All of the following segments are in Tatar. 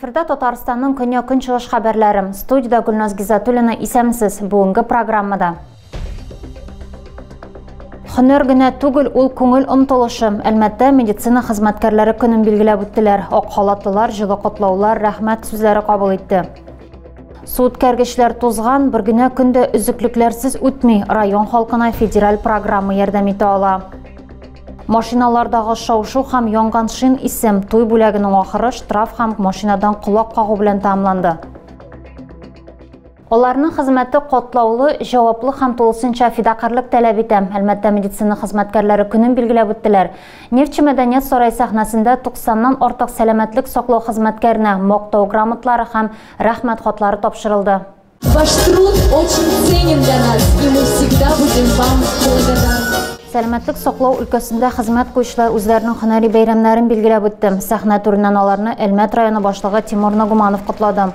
Эфирда Татарстанның көньяк-көнчыгыш хәбәрләре. Студиядә Гөлназ Гизатуллина исәмсез. Бүгенге программада. Хөнер генә түгел, ул күңел омтылышы. Әлмәттә медицина хезмәткәрләре көнен билгеләп үттеләр. Ак халатлылар җылы котлаулар, рәхмәт сүзләре кабул итте. Су үткәргечләр тузган, бер генә көн дә өзеклекләрсез үтми. Район халкына федераль программа ярдәм итә ала. Машиналардагы шау-шу һәм янган шин исем туй бүләгенең ахыры штраф һәм машинадан колак кагу белән тәмамланды. Аларның хезмәте катлаулы, җаваплы һәм тулысынча фидакарьлек таләп итә. Әлмәттә медицина хезмәткәрләре көнен билгеләп үттеләр. Нефтьче Мәдәният сарае сәхнәсендә 90 нан артык сәламәтлек саклау хезмәткәренә Мактау грамоталары һәм Рәхмәт хатлары тапшырылды. Ваш труд очень ценен для нас и мы всегда будем вам благодарны. Сәламәтлек саклау өлкәсендә хезмәт куючылар үзләренең һөнәри бәйрәмнәрен билгеләп үтте. Сәхнә түреннән аларны Әлмәт районы башлыгы Тимур Нагуманов котлады.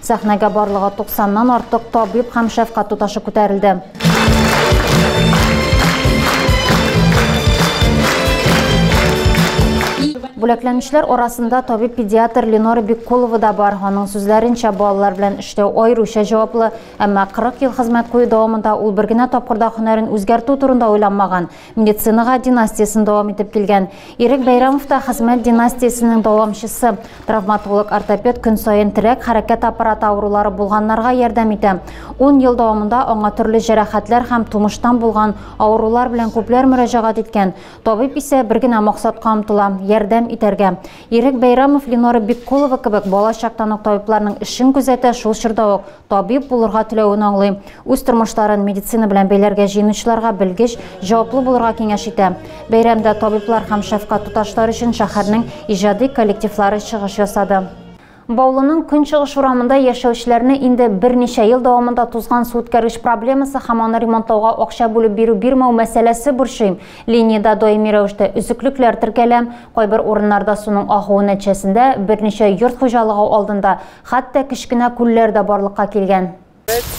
Сәхнәгә барлыгы 90-нан артык табиб һәм шәфкать туташы күтәрелде. Бүләкләнүчләр арасында табиб-педиатр Ленора Беккулова да бар. Аның сүзләренчә, балалар белән эштә аеруча җаваплы, әмма 40 ел хезмәт кую дәвамында ул бер генә тапкырда һөнәрен үзгәртү турында уйланмаган. Медицинага династиясен дәвам итеп килгән Ирек Бәйрәмов та хезмәт династиясенең дәвамчысы. Травматолог-ортопед көн саен терәк хәрәкәт аппараты авырулары булганнарга ярдәм итә. Ун ел дәвамында аңа төрле җәрәхәтләр һәм тумыштан булган авырулар белән күпләр мөрәҗәгать иткән. Табиб исә бер генә максатка омтыла, ярдәм итәргә. Ирек Бәйрәмов Ленора Биккулова кебек бала чактан ук табибларның эшен күзәтә, шул чорда ук табиб булырга теләвен аңлый. Үз тормышларын медицина белән бәйләргә җыенучыларга белгеч, җаваплы булырга киңәш итә. Бәйрәмдә табиблар һәм шәфкать туташлар өчен шәһәрнең иҗади коллективлары чыгыш ясады. Баулының көнчыгыш урамында яшәүчеләрне инде берничә ел дәвамында тузган су үткәргеч проблемасы һәм аны ремонтлауга акча бүлеп бирү бирмәү мәсьәләсе борчый. Линиядә даими рәвештә өзеклекләр теркәлә. Кайбер урыннарда суның агуы нәтиҗәсендә берничә йорт хуҗалыгы алдында Хәтта кечкенә күлләр дә барлыкка килгән.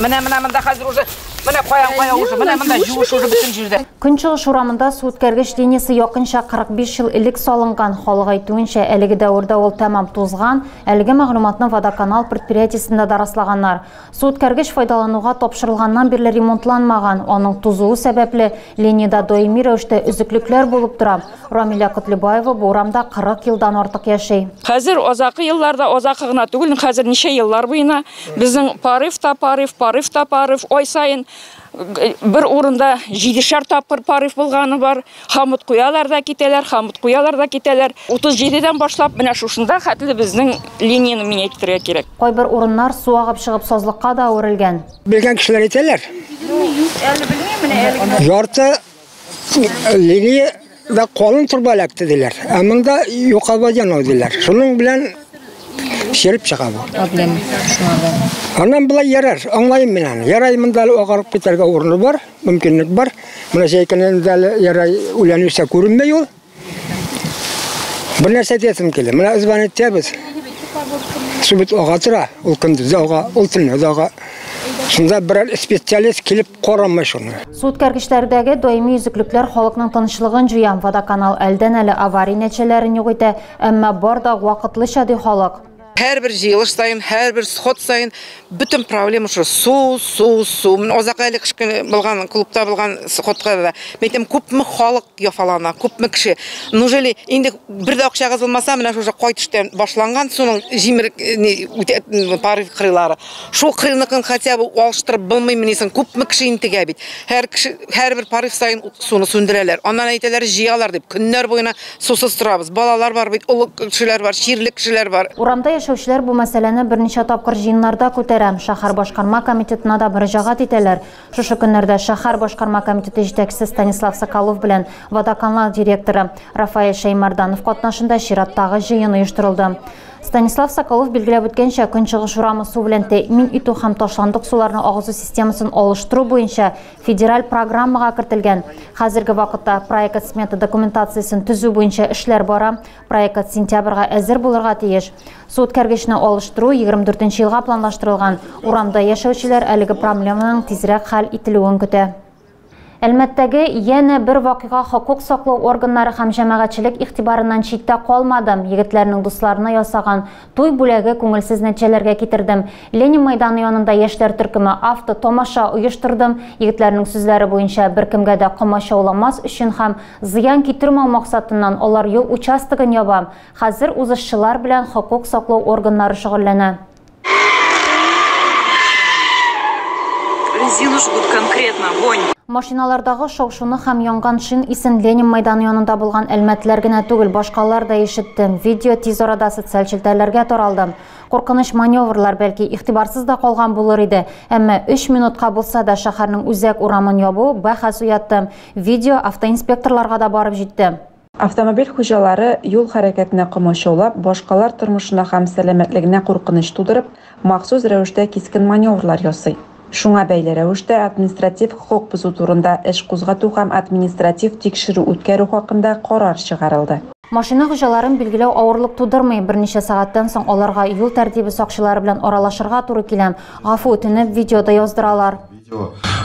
Менә, менә монда хәзер уже, менә каян кая уже, менә монда җуыш уже бөтен җирдә. Көнчыгыш урамында су үткәргеч линиясе якынча 45 ел элек салынган. Халык әйтүенчә, әлеге дәвердә ул тәмам тузган. Әлеге мәгълүматны Водоканал предприятиесендә дә раслаганнар. Су үткәргеч файдалануга тапшырылганнан бирле ремонтланмаган. Аның тузуы сәбәпле, линиядә даими рәвештә өзеклекләр булып тора. Рамилә Котлебаева бу урамда 40 елдан артык яши. Хәзер азакы елларда, азакы гына түгел, хәзер ничә еллар буена безнең порыв та порыв, порыв та порыв, ай саен бер урында җидешәр тапкыр порыв булганы бар. Хамыт куялар да китәләр, хамыт куялар да китәләр. 37 дән башлап менә шушында хәтле безнең линияне миңа әйтергә кирәк. Кайбер урыннар су агып чыгып сазлыкка да әверелгән. Белгән кешеләр әйтәләр. Юк, әле белмим, менә әле генә. Ярты Лилия да калын торба эләкте диләр. Ә монда юкабаҗан ул диләр. Шуның белән шереп чыга бу. Адлем. Аннан болай ярар, аңлайым мин аны. Ярай монда әле агарып китәргә урыны бар, мөмкинлек бар. Менә җәйкенен дә әле ярай үлән үсә күренмәй ул. Бер нәрсә әйтәсем килә. Менә үзбән әйтәбез. Су бит ага тора, ул көндез ага, ул төнлә ага. Шунда берәр специалист килеп карамый шуны. Су үткәргечләрдәге даими өзеклекләр халыкның тынычлыгын җуя. Водоканал әлдән-әле авария нәтиҗәләрен юк итә, әмма бар да вакытлыча, ди халык. Һәрбер җыелыш саен, һәрбер сход саен бөтен проблема шул су, су, су. Мин озак әле кышкы булган клубта булган сходка да. Мин әйтәм, күпме халык яфалана, күпме кеше. Неужели инде бер дә акчагыз булмаса, менә шушы кайтыштан башланган суның җимер э, пары кырыйлары. Шул кырыныкын хотя бы алыштырып булмыймы ни соң? Күпме кеше интегә бит. Һәр кеше һәрбер пары саен суны сүндерәләр. Аннан әйтәләр, җыялар дип. Көннәр буена Сусыз торабыз. Балалар бар бит, олы кешеләр бар, чирле кешеләр бар. Урамда яшәүчеләр бу мәсьәләне берничә тапкыр җыеннарда күтәрә, шәһәр башкарма комитетына да мөрәҗәгать итәләр. Шушы көннәрдә шәһәр башкарма комитеты җитәкчесе Станислав Соколов белән Водоканал директоры Рафаэль Шәймарданов катнашында чираттагы җыен оештырылды. Станислав Соколов билгеләп үткәнчә, Көнчыгыш урамы су белән тәэмин итү һәм ташландык суларны агызу системасын алыштыру буенча Федераль программага кертелгән. Хәзерге вакытта проект смета документациясен төзү буенча эшләр бара. Проект сентябрьгә әзер булырга тиеш. Су үткәргечне алыштыру 24 елга планлаштырылган. Урамда яшәүчеләр әлеге проблеманың тизрәк хәл ителүен көтә. Әлмәттәге яна бер вакыйга хокук саклау органнары һәм җәмәгатьчелек игътибарыннан читтә калмады. Егетләрнең дусларына ясаган Туй бүләге күңелсез нәтиҗәләргә китердем. Ленин мәйданы янында яшьләр төркеме авто тамаша оештырдым. Егетләрнең сүзләре буенча, беркемгә дә комачауламас өчен һәм зыян китермәү максатыннан алар юл участогын яба. Хәзер узышчылар белән хокук саклау органнары шөгыльләнә. Резину жгут конкретно, вонь. Машиналардагы шау-шуны һәм янган шин исен Ленин мәйданы янында булган әлмәтләр генә түгел, башкалар да ишетте. Видео тиз арада социаль челтәрләргә таралды. Куркыныч маневрлар, бәлки, игътибарсыз да калган булыр иде, әмма өч минутка булса да шәһәрнең үзәк урамын ябу бәхәс уятты. Видео автоинспекторларга да барып җитте. Автомобиль хуҗалары юл хәрәкәтенә комачаулап, башкалар тормышына һәм сәламәтлегенә куркыныч тудырып, махсус рәвештә кискен маневрлар ясый. Шуңа бәйле рәвештә административ хокук бозу турында эш кузгату һәм административ тикшерү үткәрү хакында карар чыгарылды. Машина хуҗаларын билгеләү авырлык тудырмый, берничә сәгатьтән соң аларга юл тәртибе сакчылары белән аралашырга туры килә, гафу үтенеп, видео да яздыралар.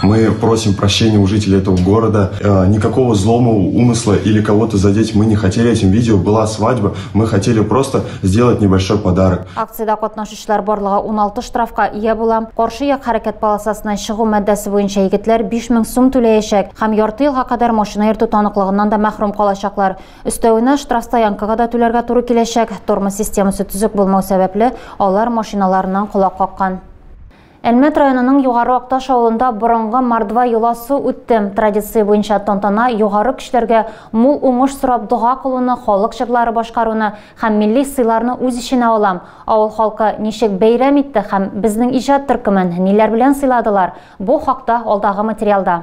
Мы просим прощения у жителей этого города. Никакого злого умысла или кого-то задеть мы не хотели этим видео. Была свадьба, мы хотели просто сделать небольшой подарок. Акциядә катнашучылар барлыгы 16 штрафка ия була. Каршы як хәрәкәт полосасыннан чыгу маддәсе буенча егетләр 5000 сум түләячәк һәм ярты елга кадәр машина йөртү таныклыгыннан да мәхрүм калачаклар. Өстәвенә, штраф стоянкага да түләргә туры киләчәк. Тормоз системасы төзек булмау сәбәпле, алар машиналарыннан колак каккан. Әлмәт районының Югары Акташ авылында борынгы мордва йоласы үтте. Традиция буенча тантана югары көчләргә мул уңыш сорап дога кылуны, халык җырлары башкаруны һәм милли сыйларны үз эченә ала. Авыл халкы ничек бәйрәм итте һәм безнең иҗат төркемен ниләр белән сыйладылар, бу хакта алдагы материалда.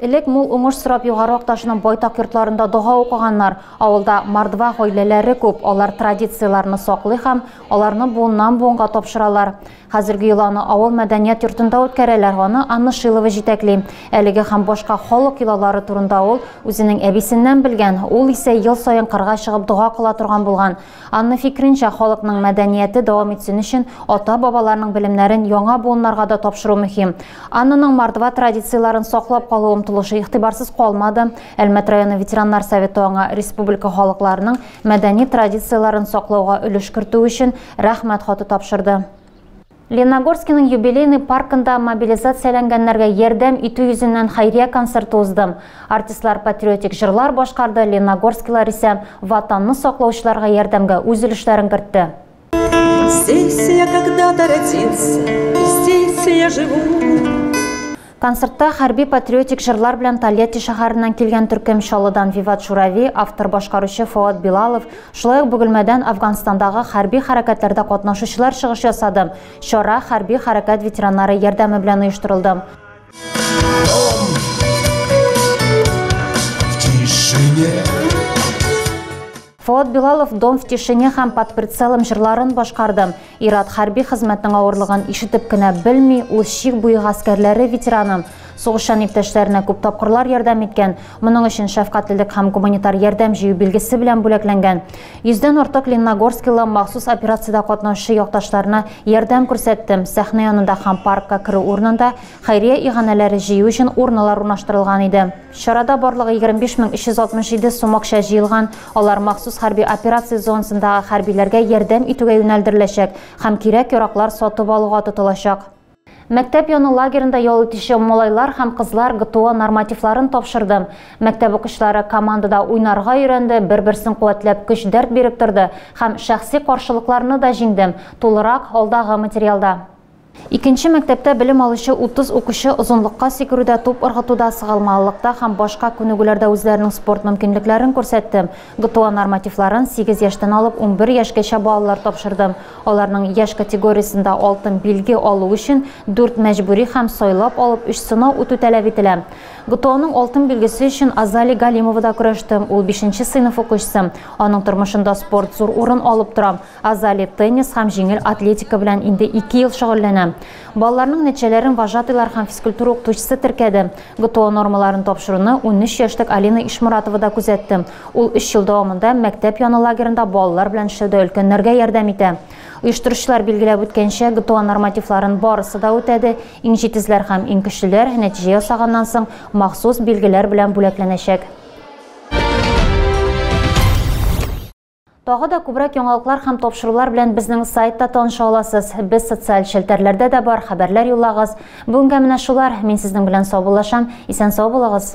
Элек мул уңыш сорап Югары Акташның байтак йортларында дога укыганнар. Авылда мордва гаиләләре күп, алар традицияләрне саклый һәм аларны буыннан-буынга тапшыралар. Хәзерге йоланы авыл мәдәният йортында үткәрәләр, аны Анна Шилова җитәкли. Әлеге һәм башка халык йолалары турында ул үзенең әбисеннән белгән, ул исә ел саен кырга чыгып дога кыла торган булган. Анны фикренчә, халыкның мәдәнияте дәвам итсен өчен ата-бабаларның белемнәрен яңа буыннарга да тапшыру мөһим. Аннаның мордва традицияләрен саклап калу омтылышы игътибарсыз калмады. Әлмәт районы ветераннар советы аңа республика халыкларының мәдәни традицияләрен саклауга өлеш кертүе өчен Рәхмәт хаты тапшырды. Леногорскиның юбилейный паркында мобилизацияләнгәннәргә ярдәм итү йөзеннән хәйрия концерты узды. Артистлар патриотик җырлар башкарды, леногорскилар исә Ватанны саклаучыларга ярдәмгә үз өлешләрен кертте. Здесь я когда-то родился, здесь я живу. Концертта хәрби-патриотик җырлар белән Тольятти шәһәреннән килгән төркем Чаллыдан Виват Журави, автор-башкаручы Фоат Билалов, шулай ук Бөгелмәдән Әфганстандагы хәрби хәрәкәтләрдә катнашучылар чыгыш ясады. Чара хәрби хәрәкәт ветераннары ярдәме белән оештырылды. Фоат Билалов Дом в тишине һәм Под прицелом җырларын башкарды. Ир-ат хәрби хезмәтнең авырлыгын ишетеп кенә белми, ул чик буе гаскәрләре ветераны. Сугышчан иптәшләренә күп тапкырлар ярдәм иткән, моның өчен шәфкатьлелек һәм гуманитар ярдәм җыю билгесе белән бүләкләнгән. Йөздән артык ленногорскилы махсус операциядә катнашучы якташларына ярдәм күрсәтте, сәхнә янында һәм паркка керү урынында хәйрия иганәләре җыю өчен урналар урнаштырылган иде. Чарада барлыгы 25367 сум акча җыелган, алар махсус хәрби операция зонасындагы хәрбиләргә ярдәм итүгә юнәлдереләчәк һәм кирәк-яраклар сатып алуга тотылачак. Мәктәп яны лагеренда ял итүче малайлар һәм кызлар ГТО нормативларын тапшырды. Мәктәп укучылары командада уйнарга өйрәнде, бер-берсен куәтләп көч-дәрт биреп торды һәм шәхси каршылыкларны да җиңде. Тулырак, алдагы материалда. Икенче мәктәптә белем алучы 30 укучы озынлыкка сикерүдә, туп ыргытуда, сыгалмалылыкта һәм башка күнегүләрдә үзләренең спорт мөмкинлекләрен күрсәтте. ГТО нормативларын сигез яшьтән алып унбер яшькәчә балалар тапшырды. Аларның яшь категориясендә алтын билге алу өчен дүрт мәҗбүри һәм сайлап алып өч сынау үтү таләп ителә. ГТОның алтын билгесе өчен Азали Галимова да көрәште. Ул бишенче сыйныф укучысы. Аның тормышында спорт зур урын алып тора. Азали, теннис һәм җиңел атлетика белән инде ике ел шөгыльләнә. Балаларның нәтиҗәләрен вожатыйлар һәм физкультура укытучысы теркәде. ГТО нормаларын тапшыруны унөч яшьлек Алина Ишморатова да күзәтте. Ул өч ел дәвамында мәктәп яны лагерында балалар белән эшләүдә өлкәннәргә ярдәм итә. Оештыручылар билгеләп үткәнчә, ГТО нормативларын барысы да үтәде, иң җитезләр һәм иң көчлеләр, нәтиҗә ясаганнан соң, махсус билгеләр белән бүләкләнәчәк. Тагы да күбрәк яңалыклар һәм тапшырулар белән безнең сайтта таныша аласыз. Без социаль челтәрләрдә дә бар, хәбәрләр юллагыз. Бүгенгә менә шулар. Мин сезнең белән саубуллашам. Исән сау булыгыз.